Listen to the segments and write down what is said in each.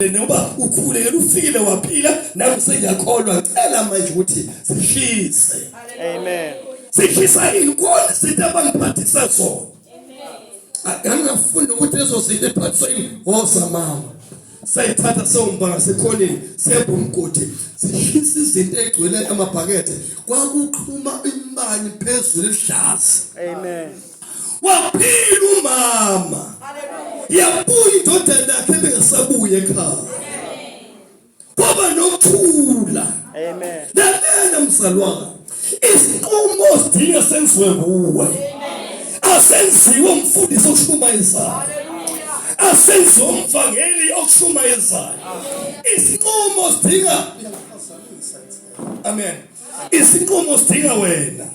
noma ukhule yena ufile waphila nami sengiyakholwa cela manje ukuthi sihlise amen sihlisa inkolo sithi abangiphathisa zona akangafuni ukuthi lezo zinto ephathisa ingoza mama sayithatha sewumbanga sekhoneni sebha umgodi sihlisa izinto egcwele amabhakethe kwakuqhuma imbani phezulu ehlaza amen waphila umama yabuya indodana yakhe bengasabuye ekhaya kwaba nokuthula amen lalela mzalwane isinqumo sidinga senziwe kuwe asenziwe umfundisi oshumayezana asenze umvangeli okushumayezayo isinqumo sidinga amen isinqumo sidinga wena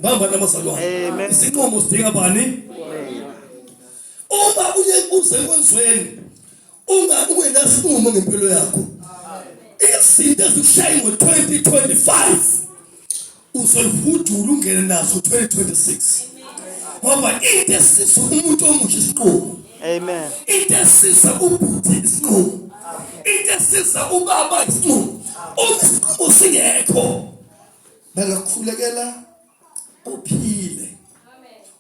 Bamba namazalwane. Amen. Isinqumo sidinga bani? Uma uye usekwenzweni unga ungenasinqumo ngempilo yakho. Izinto ezikushaya ngo-2025 uzolihudula ungene nazo 2026. Ngoba into esisa umuntu omusha isinqumo. Amen. Into esisa ubhuti isinqumo. Into esisa ubaba isinqumo. Uma isinqumo singekho Bengakukhulekela uphile.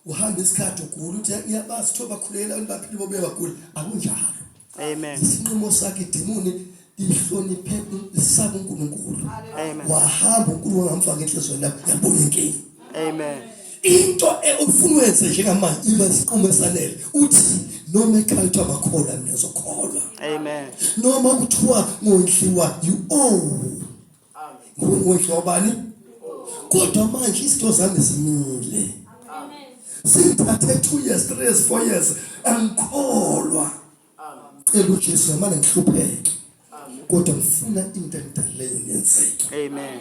Uhamba isikhathi ugula uthi iyabazi kuthiwa bakhulekela abantu baphile bobuye bagula. Akunjalo. Amen. Isinqumo sakhe idimoni lihloniphe isaba uNkulunkulu. Amen. Wahamba uNkulunkulu wangamfaka enhlizweni yakho yabona inkinga. Amen. Into ufuna wenze njengamanje iba isinqumo esanele. Uthi noma ekhaya kuthiwa bakholwa mina zokholwa. Amen. Noma kuthiwa ngondliwa you owe Ngumuhle wabani? Kodwa manje izinto zami zimile. Amen. Sithathe 2 years, 3 years, 4 years angikholwa. Amen. Cela uJesu manje ngihlupheke. Kodwa ngifuna into endaleyo yenzeke. Amen.